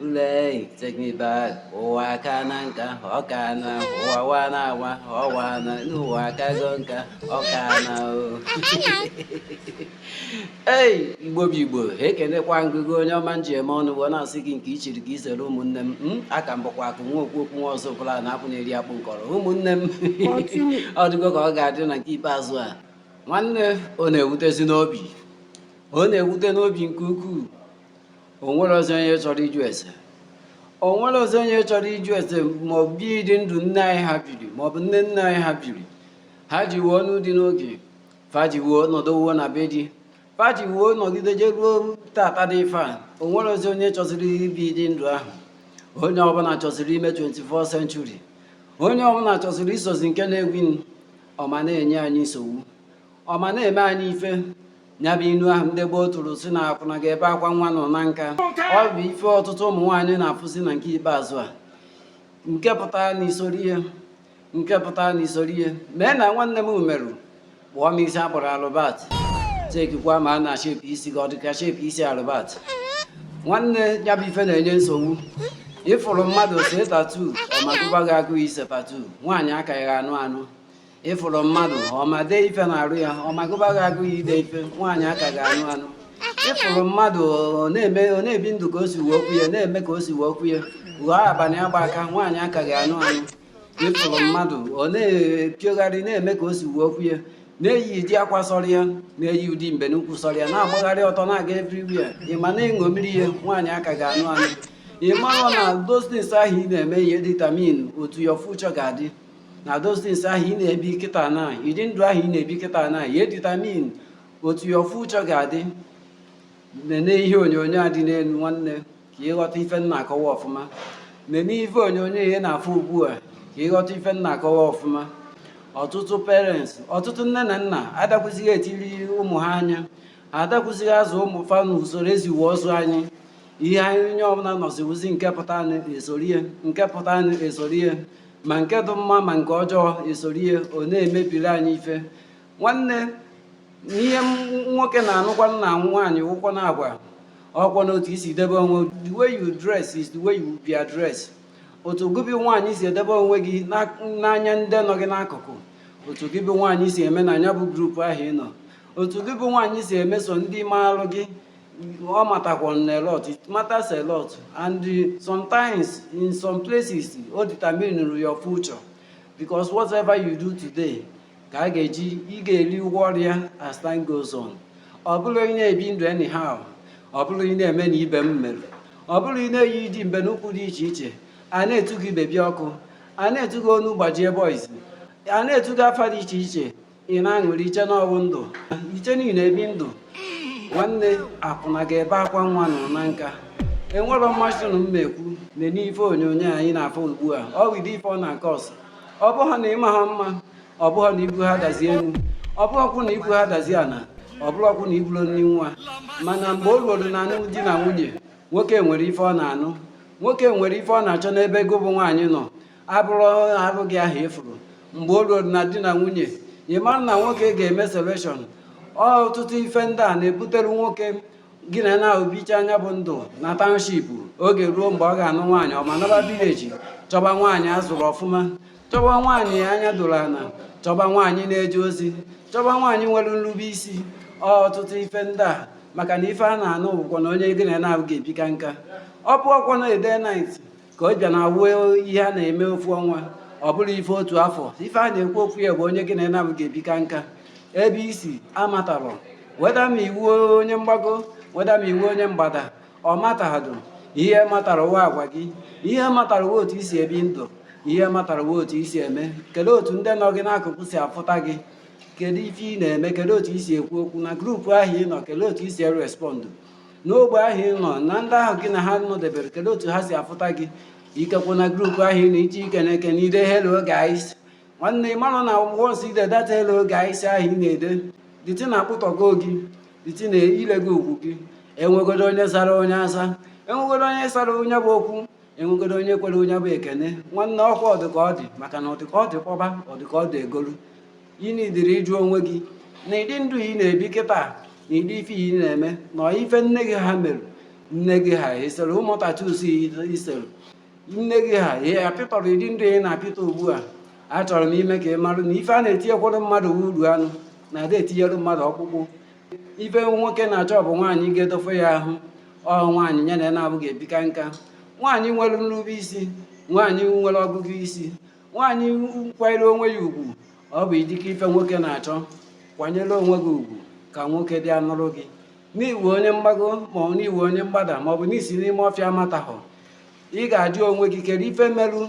Lee teknibal ụwa aka na nka ọka na ụwa wa na awa ọwa na n'ụwa akago nka ọka na o ei igbo bụ igbo ekenekwa m gị o onye ọma m ji eme ọnụ wee na-asị gị nke i chiri ka i zere ụmụnne m aka m bụkwa akụ nwa okwu okwu nwa ọzọ bụla na akwụ na-eri akpụ nkọrọ ụmụnne m ọ dịgo ka ọ ga-adị na nke ikpeazụ a nwanne ọ na-ewutezi n'obi ọ na-ewute n'obi nke ukwuu o nwerezi onye chọrọ ịjụ ese o nwerezi onye chọrọ ịjụ ese ma ọ bụ ụdị ndụ nne anyị ha biri ma ọ bụ nne nne anyị ha biri ha ji wee nụọ di n'oge fa ji wee nọdụwe na be di fa ji wee nọgide jeruo taata dị ife a o nwerezi onye chọziri ibi ụdị ndụ ahụ onye ọbụla chọziri ime 21st century onye ọbụla chọziri isozi nke na-ereign ọ ma na-enye anyị nsogbu ọ ma na-eme anyị ife ya bụ inu ahụ ndị gboo tụrụ sị na akwụna ga-ebe akwa nwa nọ na nka ọ bụ ife ọtụtụ ụmụ nwaanyị na-afụzi na nke ikpeazụ a nke pụtara na isoro ihe nke pụtara na isoro ihe mee na nwanne m merụ kpụọ m isi a kpụrụ Albert chekikwa ma a na shape isi gị ọ dịka shape isi Albert nwanne ya bụ ife na-enye nsogbu ị fụrụ mmadụ see tattoo ọ ma gụba gị agụụ ise tattoo nwaanyị a ka ga-anụ anụ ị fụrụ mmadụ ọ ma dee ife n'arụ ya ọ ma gụba gị agụụ ya ide ife nwaanyị a ka ga-anụ anụ ị fụrụ mmadụ ọ na-eme ọ na-ebi ndụ ka o si wee okwu ya na-eme ka o si wee okwu ya ghọọ abalị agba aka nwaanyị a ka ga-anụ anụ ị fụrụ mmadụ ọ na-epiogharị na-eme ka o si wee okwu ya na-eyi ụdị akwa sọrọ ya na-eyi ụdị mbe n'ukwu sọrọ ya na-agbagharị ọtọ na-aga everywhere ị ma na-eṅomiri ya nwaanyị a ka ga-anụ anụ ị mara na those things ahụ ị na-eme ya edetermine otu your future ga-adị na those things ahụ ị na-ebi kịta na ụdị ndụ ahụ ị na-ebi kịta na ya edetermine otu your future ga-adị nene ihe onyonyo a dị n'elu nwanne ka ị ghọta ife m na-akọwa ọfụma nene ife onyonyo ị na-afụ ugbu a ka ị ghọta ife m na-akọwa ọfụma ọtụtụ parents ọtụtụ nne na nna adakwụzighị etiri ụmụ ha anya adakwụzighị azụ ụmụ fa n'usoro e ji wee zụọ anyị ihe anyị onye ọbụla nọziwuzi nke pụta e soro ya nke pụta e soro ya ma nke dị mma ma nke ọjọọ e soro ya ọ na-emebiri anyị ife nwanne ihe nwoke na-anụkwanụ na nwaanyị bụkwanụ agwa ọ bụkwanụ otu i si debe onwe the way you dress is the way you be addressed otu gị bụ nwaanyị si edebe onwe gị n'anya ndị nọ gị n'akụkụ otu gị bụ nwaanyị si eme na ya bụ group ahụ ị nọ otu gị bụ nwaanyị si emeso ndị maalụ gị ọ matakwa a lot it matters a lot and sometimes in some places o determine your future because whatever you do today ka a ga-eji ị ga-eri ụgwọ ọrụ ya as time goes on ọ bụrụ ị na-ebi ndụ anyhow ọ bụrụ ị na-eme na ibe m mere ọ bụrụ ị na-eyi ịdị mbe n'ukwu dị iche iche a na-etu gị baby ọkụ a na-etu gị onu gbajie boys a na-etu gị afa dị iche iche ị na-aṅụrị i chee na ọ wụ ndụ i chee na ị na-ebi ndụ nwanne akwụna ga-ebe akwa nwa nọ na nka enwere mmasị na mma ekwu na n'ife onyonyo anyị na-afụ ugbu a ọ wụdị ife ọ na nke ọsọ ọ bụghị na ịma ha mma ọ bụghị na ibu ha dazie elu ọ bụghịkwụ na ibu ha dazie ala ọ bụrụkwụ na iburu nri nwa mana mgbe o ruoru na anụ di na nwunye nwoke nwere ife ọ na-anụ nwoke nwere ife ọ na-achọ n'ebe gị bụ nwaanyị nọ abụrọ arụ gị ahụ ị fụrụ mgbe o ruo na di na nwunye ị mara na nwoke ga-eme selection ọtụtụ ife ndị a na-ebutere nwoke gị na ya nabọ bicha nya bụ ndụ na township oge ruo mgbe ọ ga-anụ nwaanyị ọ ma naba village chọba nwaanyị a zụrụ ọfụma chọba nwaanyị anya doro ana chọba nwaanyị na-eje ozi chọba nwaanyị nwere nrube isi ọtụtụ ife ndị a maka na ife a na-anụ bụkwanụ onye gị na ya nabọ ga-ebika nka ọ bụọkwa na a day night ka ọ bịa na awụ ihe a na-eme ofu ọnwa ọ bụrọ ife otu afọ ife a na-ekwu okwu ya bụ onye gị na ya nabọ ga-ebika nka ebe i si amatarọ whether ma ị wụ onye mgbago whether ma ị wụ onye mgbada ọ matahadụ ihe matara wụ agwa gị ihe matara wụ otu i si ebi ndụ ihe matara wụ otu i si eme kedu otu ndị nọ gị n'akụkụ si afụta gị kedu ife ị na-eme kedu otu i si ekwu okwu na group ahụ ị nọ kedu otu i si erespọndụ n'ogbe ahụ ị nọ na ndị ahụ gị na ha nọdebere kedu otu ha si afụta gị ikekwu na group ahụ ị nọ iche ike na-eke na ide hello guys nwanne ị mara na once i dedata hello guys ahụ ị na-ede dịtị na akpụtọgo gị dịtị na i lego ugwu gị enwegodo onye sara nya asa enwegodo onye sara nya bụ okwu enwegodo onye kwere nya bụ ekene nwanne ọ kwa ọ dị ka ọ dị maka na ọ dị ka ọ dị kpọba ọ dị ka ọ dị egolu ị nidiri ịjụ onwe gị na ịdị ndụ ị na-ebi kịta na ịdị ife ị na-eme na ife nne gị ha mere nne gị ha esere ụmụ tattoos i sere nne gị ha ihe apịtọrọ ịdị ndụ ị na-apịtọ ugbu a achọrọ m ime ka ị marụ na ife a na-etinyekwara mmadụ uru anụ na ada etinyere mmadụ ọkpụkpụ ife nwoke na-achọ bụ nwaanyị ga-edofe ya ahụ ọ nwaanyị ya na ya nabọ ga-ebika nka nwaanyị nwere nrube isi nwaanyị nwere ọgụgụ isi nwaanyị kwanyere onwe ya ugwu ọ bụ idike ife nwoke na-achọ kwanyere onwe gị ugwu ka nwoke bịa nụrụ gị na ị wụ onye mgbago maọbụ na ị wụ onye mgbada maọbụ na i si n'ime ọfịa matahụ ị ga-ajụ onwe gị kere ife merụ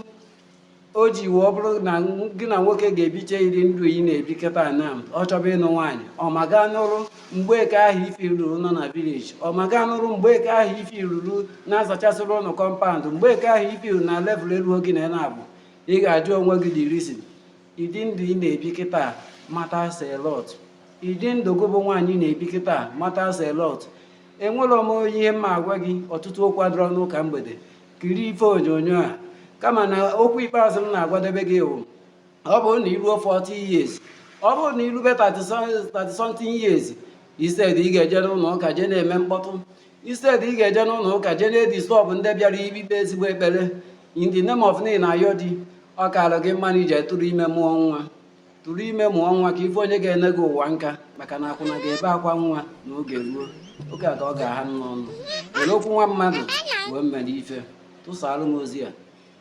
o ji wee bụrụ na gị na nwoke ga-ebicha ịdị ndụ ị na-ebi kịta na ọ chọba ịnụ nwaanyị ọ ma gaa n'ụrụ mgbeke ahụ ife ruru nọ na village ọ ma gaa nụrụ mgbeke ahụ ife ruru na-azachasịrị unu compound mgbeke ahụ ife ruru na level elu oge na na-abụ ị ga-ajụ onwe gị the reason ịdị ndụ ị na-ebi kịta matters a lot ịdị ndụ gị bụ nwaanyị na-ebi kịta matters a lot enwere m onye ihe m ma-agwa gị ọtụtụ okwu adịrọ n'ụka mgbede kiri ife onyonyo a kama na okwu ikpeazụ m na-agwadebe gị bụ ọ bụrụ na i ruo 40 years ọ bụrụ na i rube 30 something years instead ị ga-eje n'ụlọ ụka jee na-eme mkpọtụ instead ị ga-eje n'ụlọ ụka jee na-edisturb ndị bịara ikpe ezigbo ekpere in the name of ị na-ayọ di ọ kaara gị mma na i je tụrụ ime mụọ nwa tụrụ ime mụọ nwa ka ị fụ onye ga-ene gị ụwa nka maka na akwụna ga-ebe akwa nwa na oge ruo oge a ka ọ ga-aha n'ọnụ were okwu nwa mmadụ wee mere ife tụsaalụ m ozi a